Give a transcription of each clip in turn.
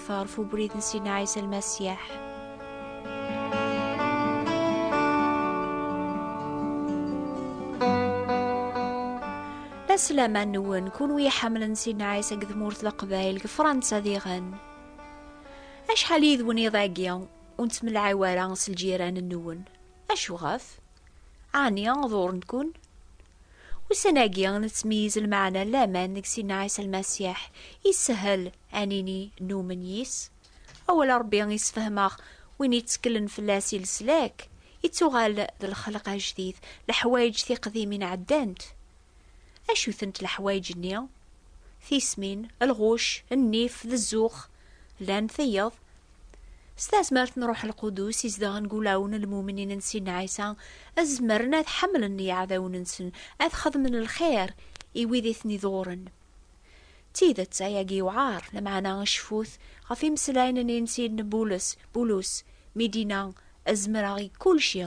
akteṛ ɣef ubrid n Sina Ɛisa Lmasiyeḥ. Aslama nwen, kunwi iḥamlen Sina Ɛisa deg tmurt Leqbayel, deg Fransa diɣen. Acḥal yid-wen iḍ-agi ur nettmelɛiw ara s lǧiran-nwen? Acu ɣef? Ɛni ḍuren-ken? Ussan-agi, nettmeyyiz lmeɛna n laman deg Sidna Ɛisa Lmasiḥ, yessehhel ad nini numen yis. Awal n Rebbi yessefhem-aɣ, win yetteklen fell-as i leslak, yettuɣal d lxelq ajdid, leḥwayeǧ tiqdimin ɛeddant. Acu-tent leḥwayeǧ-nni? Tismin, lɣucc, nnif d zzux. Llan tiyeḍ, s tazmert n Ruḥ Lqudus izedɣen deg wulawen n lmumnin n Sidna Ɛisa, ad zemren ad ḥemmlen iɛdawen-nsen, ad xedmen lxir i wid i ten-iḍuren. D tidet, ayagi yewɛer, lameɛna cfut ɣef imeslayen-nni n Sidna Bulus, Bulus, mi d-yenna, Ad zemreɣ i kulci.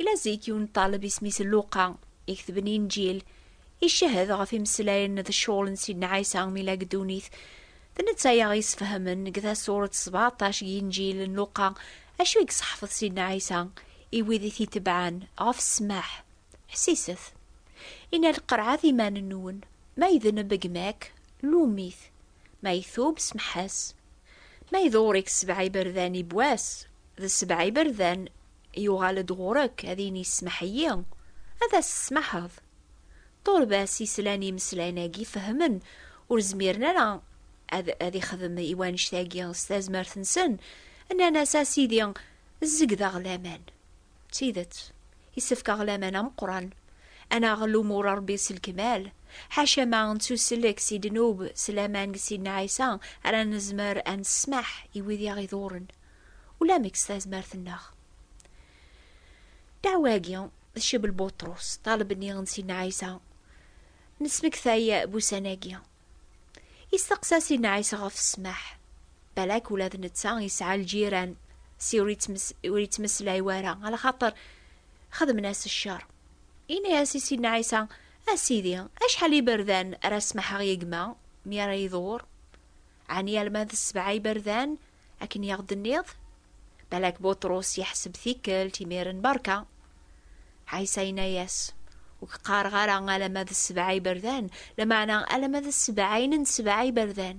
Ila zik yiwen ṭṭaleb isem-is Luqa, iketben Inǧil, icehhed ɣef imeslayen d ccɣel n Sidna Ɛisa mi la deg ddunit. D netta i aɣ-yesfehmen deg tasuret sebɛeṭṭac n Inǧil n Luqa acu i yesseḥfeḍ Sidna Ɛisa i wid i t-itebɛen ɣef ssmaḥ, Ḥsiset! Inna, Lqerɛet iman-nwen, ma idneb gma-k, lum-it. Ma itub smeḥ-as. Ma iḍurik sebɛa iberdan i wass, d sebɛa iberdan yuɣal-d ɣur-k ad yini smeḥ-iyi, ad as-tesmaḥeḍ. Ṭurbas yeslan imeslayen-agi fehmen ur zmiren ara ad ad ixdem i wanect-agi s tazmert-nsen, nnan-as a sidi zzegdeɣ laman. D tidet, isefk-aɣ laman ameqqran ad naɣ lumuṛ n Ṛebbi s lekmal, ḥaca ma nettusellek si ddnub s laman n Sidna Ɛisa ara nezmer ad nessmaḥ i wid i aɣ-iḍuṛṛen, ulamek s tazmert-nneɣ. Ddeɛwa-agi tceb n Buṭrus, ṭṭaleb-nni n Sidna Ɛisa, nesmektay wussan-agi. Isteqsa si Nɛisa ɣef ssmaḥ. Balak ula d netta yesɛa lǧiran, si ur yettmeslay wara, ala xaṭer xedmen-as ccer. Yenna-as i Sidna Ɛisa, A Sidi, acḥal iberdan ara smaḥeɣ i gma mi ara iḍur? Ɛni alma d sebɛa iberdan? Akken i aɣ-d-tenniḍ? Balak Buṭrus yeḥseb tikkelt imiren berka. Ɛisa yenna-yas, Ur k-qqareɣ ara alamma d sebɛa iberdan, lameɛna alamma d sebɛin n sebɛa iberdan.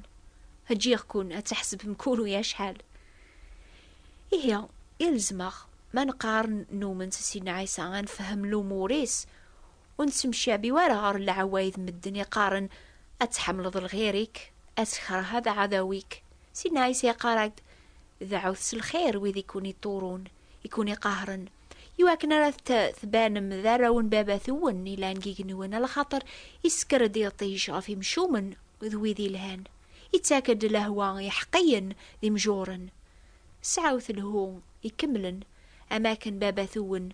Ǧǧiɣ-ken ad tḥesbem kul u acḥal. Ihi, ilzem-aɣ, ma neqqar numen s Sidna Ɛisa, ad nefhem lumur-is, Ur nettemcabi ara ɣer leɛwayed n medden iqqaren, Ad tḥemmleḍ lɣir-ik, ad tkeṛh aɛdaw-ik. Sidna Ɛisa iqqar-ak-d, Deɛɛut s lxir wid i ken-iṭṭurun, i ken-iqahren, i wakken ara tbanem d arraw n Baba-twen yellan deg yigenwan, a lxaṭer isekker-d iṭij ɣef imcumen d wid ilhan, ittak-d lehwa i yiḥeqqiyen d imjuren. Sɛut lhu ikemlen, am wakken Baba-twen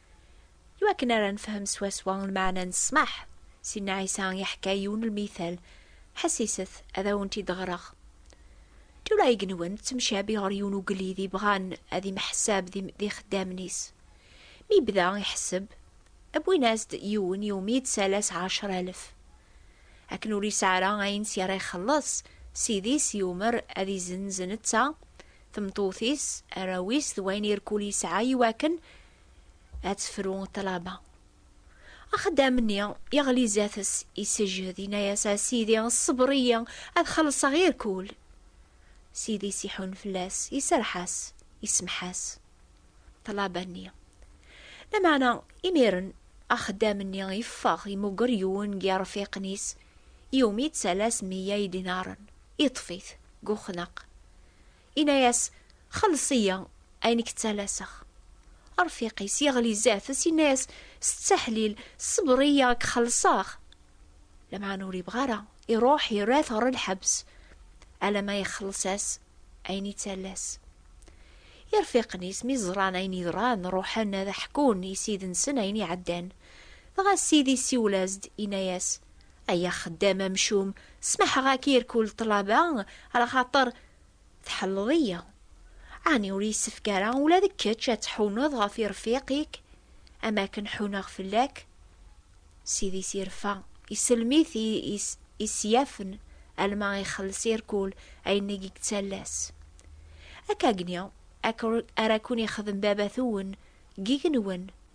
I wakken ara nefhem swaswa lmeɛna n ssmaḥ, Sidna Ɛisa iḥka yiwen lmital, ḥessiset, ad awen-t-id-ɣreɣ. Tura igenwan ttemcabi ɣer yiwen ugellid i bɣan ad imḥessab d ixeddamen-is. Mi yebda iḥesseb, wwin-as-d yiwen i wumi yettsalas ɛecra alef. Akken ur yesɛi ara ayen s ara ixelleṣ, ssid-is yumer ad izenz netta, tmeṭṭut-is, arraw-is d wayen irkul yesɛa i wakken ad tefru ṭṭlaba. Axeddam-nni yeɣli zdat-s, isejhed, yenna-as, A Sidi, ṣṣeber-iyi, ad xellṣeɣ irkul. Sidi-s iḥun fell-as, iserreḥ-as, isemmeḥ-as. Ṭṭlaba-nni. Lameɛna, imiren, axeddam-nni yeffeɣ, yemmuger yiwen n yirfiqen-is, iwumi yettalas meyya idinaren, yeṭṭef-it. deg uxnaq, inna-yas, Xelleṣ-iyi ayen i k-ttalaseɣ. Arfiq-is yeɣli zdat-s, inna-yas, S ttaḥlil, ṣṣber-iyi ad k-xelleṣeɣ! Lameɛna ur yebɣi ara, iruḥ yerra-t ɣer lḥebs, alamma ixelleṣ-as ayen ittalas. Irfiqen-is mi ẓran ayen yeḍran, ruḥen ad ḥkun i ssid-nsen ayen iɛeddan. Dɣa ssid isiwel-as-d, inna-yas, Ay axeddam amcum, smaḥeɣ-ak i rkul ṭṭlaba, ɣer xaṭer tḥelleḍ-iyi. Ɛni ur yessefk ara ula d kečč ad tḥuneḍ ɣef irfiq-ik am akken ḥuneɣ fell-ak? Ssid-is irfa, isellem-it i isyafen alma ixelles i rkul ayen i yettallas. Akkagni ara ken-ixdem baba-twen deg yigenwen.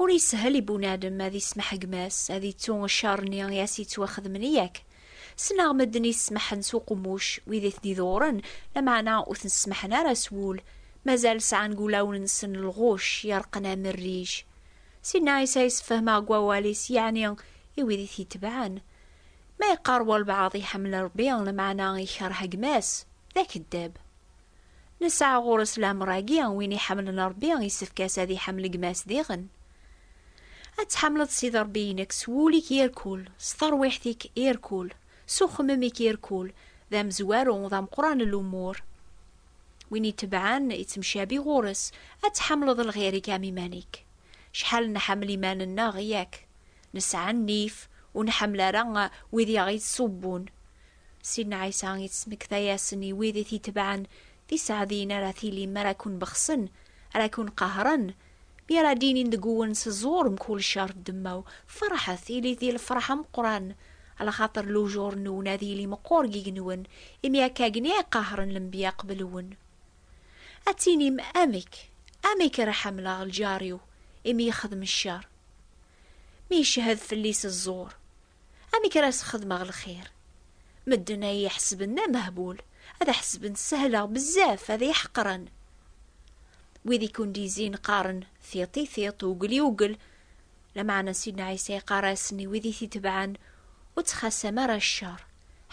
Ur yeshel i bunadem ad ismeḥ gma-s, ad ittu ccer-nni i as-yettwaxedmen, yak? Sneɣ medden i semmḥen s uqemmuc, wid i t-d-iḍewren, lameɛna ur ten-semmḥen ara s wul, mazal sɛan deg wulawen-nsen lɣuc yerqen am rrij. Sidna Ɛisa yessefhem-aɣ deg wawal-is, yeɛni i wid i t-itebɛen. Ma yeqqar walbeɛḍ iḥemmel Rebbi, lameɛna ikerh gma-s, d akeddab. Nesɛa ɣur-s leɛmer-agi, win iḥemmlen Ṛebbi, issefk-as ad iḥemmel gma-s diɣen. Ad tḥemmleḍ Sidi Ṛebbi-inek s wul-ik irkul, s terwiḥt-ik irkul, s uxemmem-ik irkul, d amezwaru, d ameqqran n lumur. Win itebɛen, ittemcabi ɣur-s, ad tḥemmleḍ lɣir-ik am iman-ik. Cḥal nḥemmel iman-nneɣ, yak? Nesɛa nnif, ur nḥemmel ara wid i aɣ-ittṣubbun. Sidna Ɛisa yettmekta-yasen i wid i t-itebɛen, D iseɛdiyen ara tilim mi ara ken-bexsen, ara ken-qehren, mi ara d-inin deg-wen s ẓẓur mkul ccer d ddemmaw, ferḥet, ilit di lefreḥ ameqqran, alaxaṭer lujur-nwen ad yili meqqur gigen-wen, imi akka gen i qehren lenbiya qbel-wen. Ad tinim, Amek, amek ara ḥemleɣ lǧar-iw, imi yexdem ccer, mi icehhed fell-i s ẓẓur? Amek ara as-xedmeɣ lxir? Medden ad iyi-ḥesben d amehbul, ad aḥesben ssehleɣ bezzaf, ad iyi-ḥeqren. Wid i kundizin qqaren tiṭ i tiṭ, ugel i ugel. Lameɛna Sidna Ɛisa iqqar-asen i wid i t-itebɛen, Ur ttxassam ara ccer.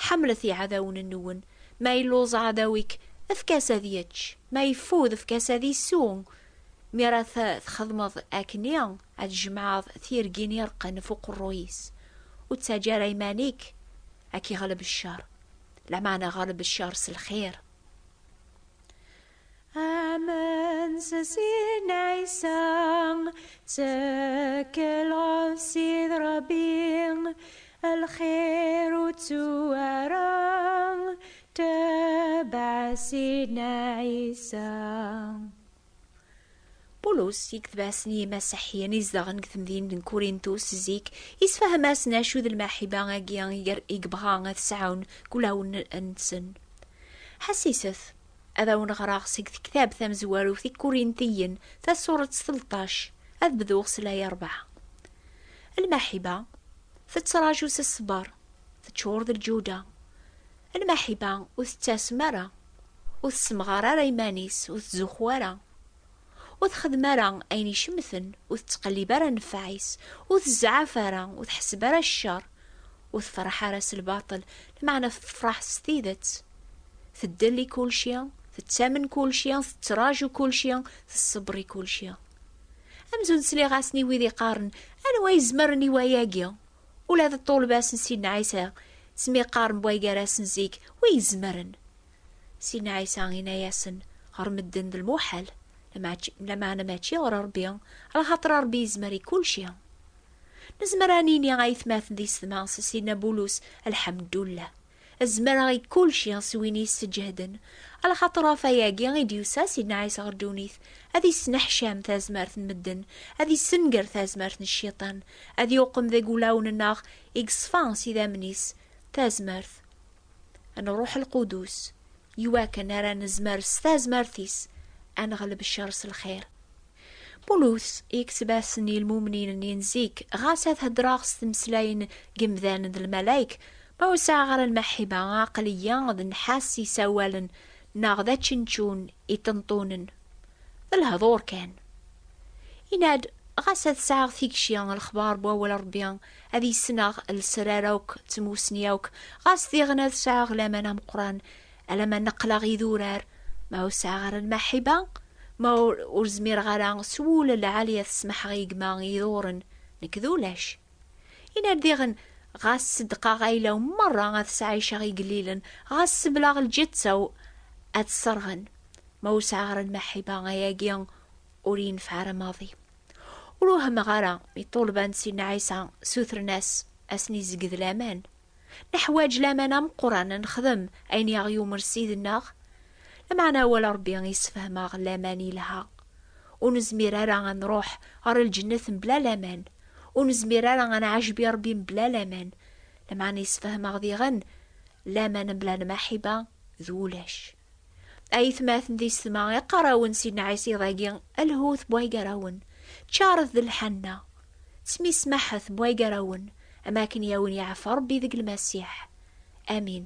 Ḥemmlet iɛdawen-nwen. Ma yelluẓ ɛdaw-ik, efk-as ad yečč. Ma yeffud, efk-as ad isew. Mi ara t-txedmeḍ akkenni, ad tjemɛeḍ tirgin ireqqen ɣef uqerruy-is. Ur ttaǧǧa ara iman-ik ad k-iɣleb ccer, lameɛna ɣleb ccer s lxir. Amen s sin Ɛisa, ttekkel ɣef Ssid Ṛebbi, A lxir ur ttu ara tebɛ Sidna Ɛisa. Pulus, i yetebɛsen yimasiḥiyen izedɣen deg temdint n Kurintus zik, yessefhem-asen acu d lmaḥiba-agi i yebɣa ad t-sɛun deg wulawen-nsen. Ḥesset, ad awen-ɣreɣ seg tektabt tamezwarut i Kurintiyen, tasuret telṭac, ad bduɣ s laya ṛebɛa. Lmaḥiba tettraǧu s ṣṣber, teččur d lǧuda. Lmaḥiba ur tettasem ara, ur tessemɣar ara iman-is, ur tzuxxu ara, ur texdem ara ayen icemten, ur tettqellib ara nnfeɛ-is, ur tezɛaf ara, ur tḥesseb ara ccer, ur tefreḥ ara s lbaṭel, lmeɛna tefreḥ s tidet. Teddel i kulci, tettamen kulci, tettraǧu kulci, tesseber i kulci. Amzun sliɣ-asen i wid iqqaren anwa yezmeren i wayagi. Ula d ṭṭulba-s n Sidna Ɛisa smiqqaren bway gar-asen zik wi yezmeren. Sidna Ɛisa ina-yasen ɣer medden d lmuḥal, lameɛna mačči ɣer Rebbi, lxaṭer Rebbi yezmer i kulci. Nezmer ad nini ayetmaten di sedma s Sidna Bulus, Lḥemdullah. Zemreɣ i kulci s win yesseǧehden, alaxaṭer ɣef wayagi i d-yusa Sidna Ɛisa ɣer ddunit, ad yesneḥcam tazmert n medden, ad yessenger tazmert n cciṭan, ad yuqem deg wulawen-nneɣ i yeṣfa s idammen-is tazmert n Rruḥ Lqudus, iwakken ara nezmer s tazmert-is ad neɣleb ccer s lxir. Pulus yekseb-asen i lmumnin-nni n zik, ɣas ad heddreɣ s tmeslayin n yemdanen d lmalayek, ma ur sɛiɣ ara lmeḥḥiba, aql-iyi d nnḥas i sawalen neɣ d ačenčun i ṭenṭunen. D lehdur kan. Yenna-d, Ɣas ad sɛiɣ tikci, lexbar n wawal n Rebbi ad yesneɣ, lesrar akk d tmussni akk, ɣas diɣen ad sɛiɣ laman ameqqran, Ala ma neqleɣ idurar, ma ur sɛiɣ ara lmaḥiba, ma ur zmireɣ ara s wul lɛali ad smaḥeɣ i gma iḍuren, nekk d ulac. Ina diɣen, ɣas seddqeɣ ayla-w merra ad sɛiceɣ igellilen, ɣas sebleɣ lǧetta-w ad sserɣen, ma ur sɛiɣ ara lmaḥiba, ayagi ur yenfeɛ ara maḍi. Ur wehmeɣ ara mi ṭṭulba n Sidna Ɛisa sutren-as ad asen-izegged laman. Neḥwaǧ laman ameqqran ad nexdem ayen i aɣ-yumer Ssid-nneɣ. Lameɛna awal Ṛebbi yessefhem-aɣ laman yelha. Ur nezmir ara ad nṛuḥ ɣer lǧennet mebla laman. Ur nezmir ara ad nɛejjeb i Ṛebbi mebla laman. Lameɛna yessefhem-aɣ diɣen laman mebla lmaḥiba d ulac. Ayetmaten di setma iqqar-awen si nɛisiḍ-agi lhut bway gar-awen, ččaret d lḥanna, smismaḥet bway gar-awen, am akken i awen yeɛfa Rebbi deg Lmasiḥ. Amin.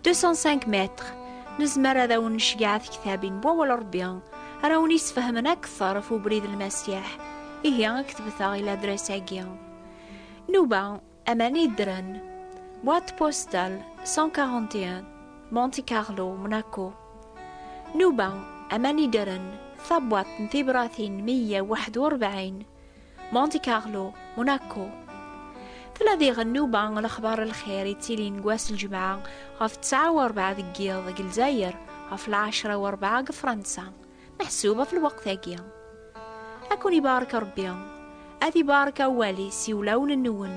205 mètres nezmer ad awen necgeɛ tektabin n wawal Rebbi ara awen yesfehmen akteṛ ɣef ubrid n Lmasiḥ, ihi ketbet-aɣ i ladres-agi. Nuba, aman yeddren, boîte postale 141, Monte Carlo, Monaco. Nuba, aman yeddren, tabwaḍt n tibratin 141. Monte Carlo, Monaco. Tella diɣ nnuba n lexbar n lxir yettilin deg wass n ljemɛa ɣef ttesɛa u rebɛa deg yiḍ deg Lezzayer, ɣef lɛecra u rebɛa deg Fransa, meḥsub ɣef lweqt-agi. Ad ken-ibarek Rebbi, ad ibarek awal-is i wulawen-nwen.